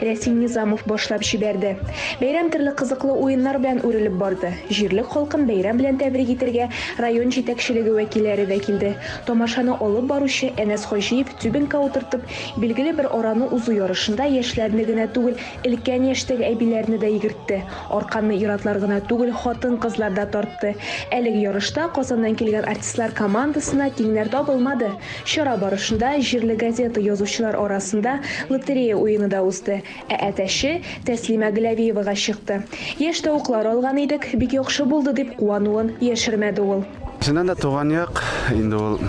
Рәсим Низамов башлап җибәрде. Бәйрәм төрле кызыклы уеннар белән үрелеп барды. Җирлек халкын бәйрәм белән тәбрик итергә район җитәкчелеге вәкилләре дә килде. Тамашаны алып баручы Әнәс Хаҗиев тюбингка утыртып, билгеле бер араны узу ярышында яшьләрне генә түгел, өлкән яшьтәге әбиләрне дә йөгертте. Арканны ир-атлар гына түгел, хатын-кызлар да тартты. Әлеге ярышта Казаннан килгән артистлар командасына тиңнәр табылмады. Чара барышында җирле газета язучылар арасында лотерея уены да узды. Ә әтәче, Тәслимә Гләвиевага чыкты. Яшь тавыклар алган идек, бик яхшы булды, дип куануын яшермәде ул. Чыннан да туган як, инде ул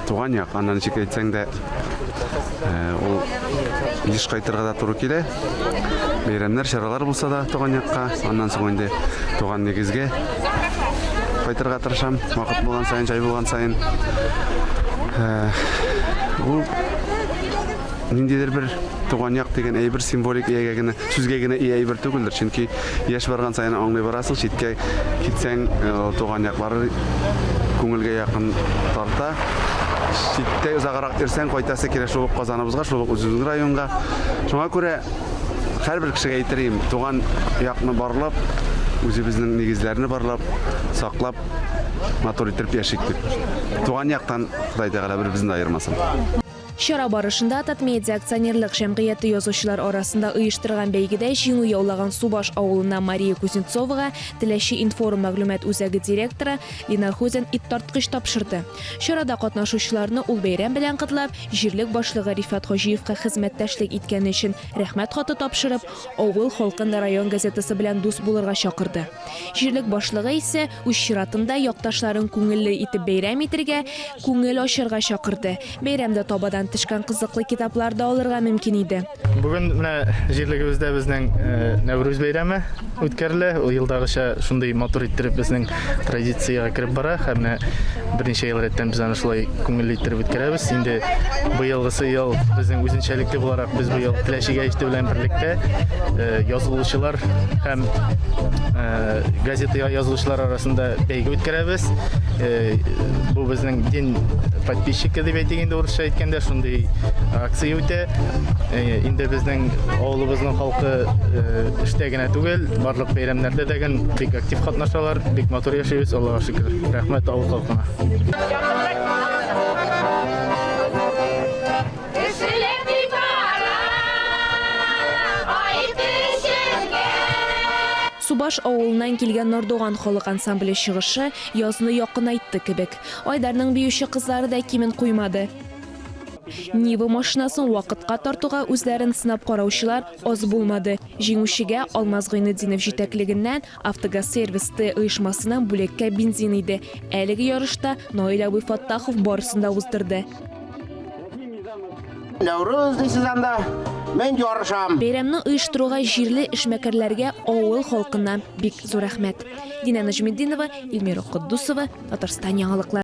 туган як, аны ничек әйтсәң дә, ул еш кайтырга да туры килә. Бәйрәмнәр, чаралар булса да туган якка, аннан соң инде туган нигезгә кайтырга тырышам. Вакыт булган саен, җай булган саен. Ул ниндидер бер туган як дигән әйбер символик иягә генә, сүзгә генә ия әйбер түгелдер, чөнки Яшь барган саен аңлый барасың, читкә китсәң, туган яклар күңелгә якын тарта. Читтә озаграк йөрсәң, кайтасы килә шул ук Казаныбызга, шул ук үзебезнең районга. Шуңа күрә һәрбер кешегә әйтерем, туган якны барлап, үзебезнең нигезләрне барлап, саклап, матур итеп яшик дип. Туган яктан Ходай Тәгалә беребезне дә аермасын. Чара барышында Татмедиа акционерлык җәмгыяте язучылар арасында оештырган бәйгедә җиңү яулаган Субаш авылына Мария Кузнецовага Теләче информ мәгълүмат үзәге директоры Ленар Хузин иттарткыч тапшырды. Чарада катнашучыларны ул бәйрәм белән котлап, җирлек башлыгы Рифат Хаҗиевка хезмәттәшлек иткәне өчен рәхмәт хаты тапшырып, авыл халкын район газетасы белән дус булырга чакырды. Җирлек башлыгы исә Үз чиратында якташларын күңелле итеп бәйрәм итергә, күңел ачарга чакырды. Бәйрәмдә табадан төшкән кызыклы китаплар да алырга мөмкин иде. Бүген менә җирлегебездә безнең Нәүрүз бәйрәме үткәрелә. Ул елдагыча шундый матур иттереп безнең традициягә кереп бара. Һәм менә берничә ел рәттән без аны шулай күңелле иттереп үткәрәбез. Инде быелгысы ел безнең үзенчәлекле буларак без быел Теләчегә иште белән берлектә язылучылар һәм Газета язылучылар арасында бәйге үткәрәбез. Бу безнең дин подписчик дип әйтик инде урысча әйткәндә шундый акция үтә. Инде безнең авылыбызның халкы эштә генә түгел, барлык бәйрәмнәрдә дә гел бик актив катнашалар. Бик матур яшибез, Аллага шөкер. Рәхмәт авыл халкына. Субаш авылыннан килгән Нордуган халык ансамбле чыгышы язны якынайтты кебек. Айдарның биюче кызлары да кимен куймады. Нива машинасын вакытка тартуга үзләрен сынап караучылар аз булмады. Җиңүчегә Алмаз Гыйнетдинов җитәклегеннән Автогазсервис Т оешмасыннан бүлеккә бензин иде. Әлеге ярышта Наил абый Фаттахов барысын да уздырды. Нәүрүз дисез анда, мин ярышам. Бәйрәмне оештыруга җирле эшмәкәрләргә авыл халкыннан бик зур рәхмәт. Динә Нәҗметдинова, Эльмира Котдусова, Татарстан яңалыклары.